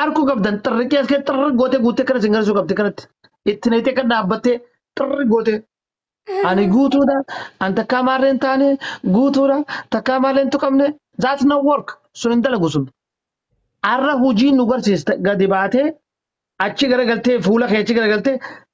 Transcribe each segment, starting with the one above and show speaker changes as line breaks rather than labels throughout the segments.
Arkuu qabdan xirriqii as keessa xirri gootee guuttee kana isin garsuu qabdi kanatti. Itti neexee kan dhaabbattee xirri gootee. Ani guutuudha. An takkaa maarreen taane guutuudha. Takkaa maarreen tuqamne. That's not work. Sun hin dalagu sun. Arra hojii nu garsiiste gadi baatee achi garagaltee fuula kee achi garagaltee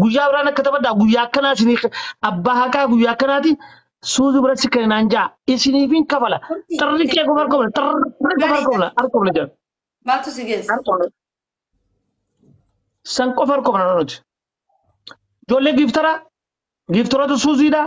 Guyyaa biraan akka taphadhaa guyyaa akkanaa isinii ka- abbaa haqaa guyyaa akkanaati suuzu bira si kenne naan ja'a isiniif hin kafala Turtii. xirri kee qofa harka bula xirri qofa harka Gaarii bula
gaarii. harka bula jedha
Maaltu
si geesse? harka
bula san qofa harka bula nuti ijoollee giiftaraa giiftaroota suuziidhaa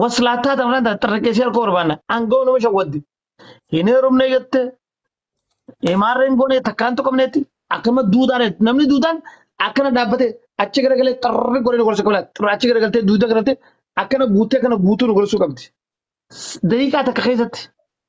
waslaattaa ta'an fudhatan tarreessee harka barbaanna aangoo nama shawwadde hin heerumne jette imaarreen goone takkaan tuqamneetti akkama duudaan namni duudaan akkana dhaabbate achi garagalee xarri godhee nu gorsuu qabna xarri achi garagaltee duuda garagaltee akkana guutee akkana guutuu nu gorsuu qabdi daqiiqaa takka keessatti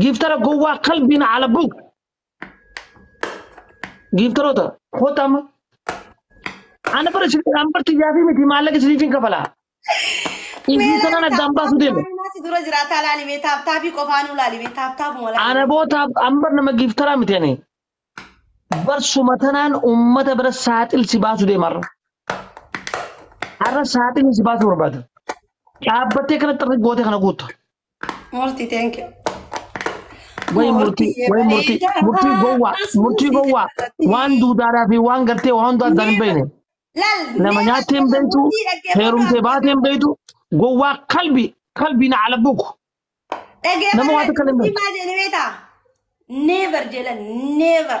Giiftara gowwaa kalbiin ala bug. Giiftaroota koota amma. Ana bara isin an barti yaafii miti maallaqa isiniifin kafala. Isin sanan addaan baasuu deema. Si dura jiraataa
laali mee taaptaabii qofaanuu laali mee taaptaabuma laali. Ana boota an bar
nama giiftaraa miti ani. Barsuma tanaan uummata bira saaxil si baasuu deema har'a. Har'a saaxilni si baasuu barbaada. Dhaabbattee kanatti irra gootee kana guutta. Murti
thank you. Way murtii, way
murtii, murtii gowwaa, murtii gowwaa. Waan duudaaraa fi waan gartee waan hundaa addaan hin beekne. Lal Nama nyaattee hin beektu, heerumtee baatee hin beektu, gowwaa kalbi, kalbi na ala buku.
Nama waan takka hin beektu. Dhaggeeffadha. Never jedhan never.